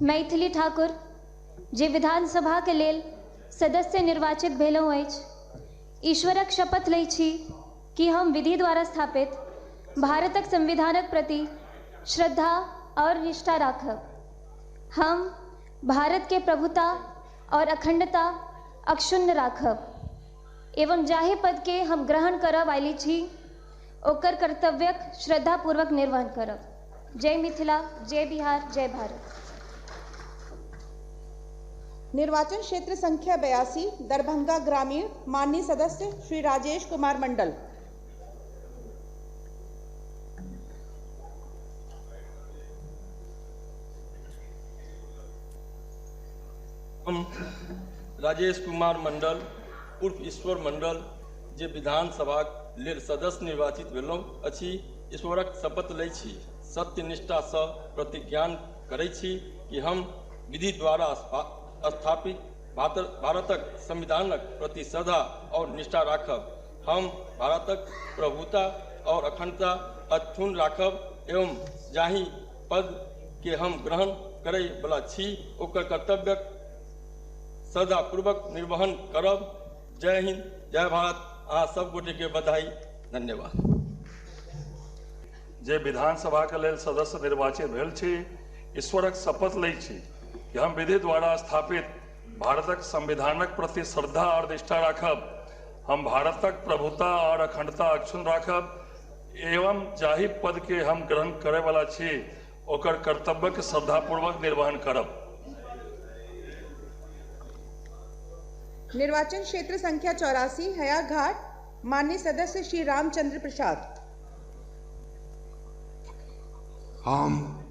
मैथिली ठाकुर जे विधानसभाक लेल सदस्य निर्वाचित भेलहुँ अछि, ईश्वरक शपथ लैत छी कि हम विधि द्वारा स्थापित भारतक संविधानक प्रति श्रद्धा आओर निष्ठा राखब। हम भारत के प्रभुता आओर अखंडता अक्षुण्ण राखब एवं जाहि पद के हम ग्रहण करऽ वाली छी, ओकर कर्तव्यक श्रद्धापूर्वक निर्वहन करब। जय मिथिला, जय बिहार, जय भारत। निर्वाचन क्षेत्र संख्या बयासी, दरभंगा ग्रामीण, माननीय सदस्य श्री राजेश कुमार मंडल। हम राजेश कुमार मंडल उर्फ ईश्वर मंडल। जे विधानसभाक लेल सदस्य निर्वाचित भेलहुँ अछि ईश्वरक शपथ लैत छी सत्य निष्ठासँ प्रतिज्ञान करैत छी कि हम विधि द्वारा स्थापित भारतक संविधानक प्रति श्रद्धा आओर निष्ठा राखब हम भारतक प्रभुता आओर अखण्डता अक्षुण राखब एवं जाहि पदके हम ग्रहण करय बला छी ओकर कर्तव्यक श्रद्धापूर्वक निर्वहन करब जय हिंद जय भारत अहाँ सब गोटे के बधाई धन्यवाद जे विधानसभा के लेल सदस्य निर्वाचित भेल छी ईश्वरक शपथ लै छी कि हम विधि द्वारा स्थापित भारतक संविधानक प्रति श्रद्धा और निष्ठा राखब हम भारतक प्रभुता और अखंडता अक्षुण राखब एवं जाहि पद के हम ग्रहण करे वाला छी ओकर कर्तव्यक श्रद्धापूर्वक निर्वहन करब। निर्वाचन क्षेत्र संख्या चौरासी, हयाघाट, माननीय सदस्य श्री रामचंद्र प्रसाद। हम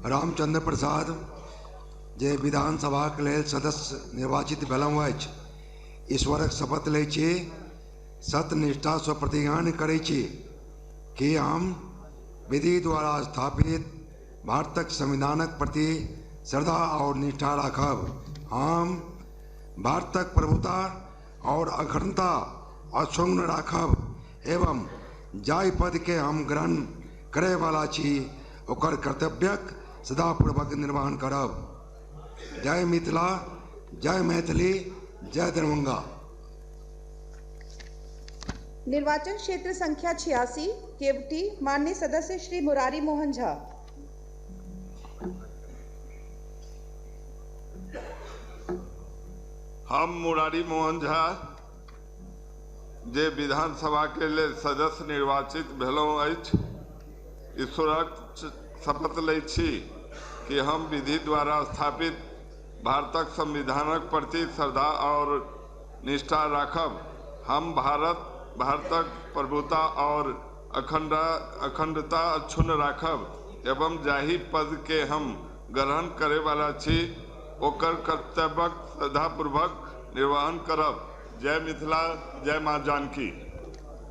रामचंद्र प्रसाद जे विधानसभाक लेल सदस्य निर्वाचित भेलहुँ अछि, ईश्वरक शपथ लैत छी, सत्य निष्ठासँ प्रतिज्ञान करैत छी। की हम विधि द्वारा स्थापित भारतक संविधानक प्रति श्रद्धा आओर निष्ठा राखब हम भारतक प्रभुता आओर अखण्डता अक्षुण्ण राखब एवं जाहि पदके हम ग्रहण करय बला छी ओकर कर्तव्यक श्रद्धा पूर्वक निर्वहण करब जय मिथिला जय मैथिली जय दरभङ्गा निर्वाचन क्षेत्र संख्या छियासी केवटी मान्य सदस्य श्री मुरारी मोहन झा हम मुरारी मोहन झा जे विधानसभा के लेल सदस्य निर्वाचित भेलहुँ अछि ईश्वरक शपथ लै छी कि हम विधि द्वारा स्थापित भारतक संविधानक प्रति श्रद्धा आओर निष्ठा राखब। हम भारत, भारतक प्रभुता आओर अखंडता अक्षुण्ण राखब एवं जाहि पद केँ हम ग्रहण करय वाला छी ओकर कर्तव्यक श्रद्धापूर्वक निर्वहन करब। जय मिथिला जय माँ जानकी।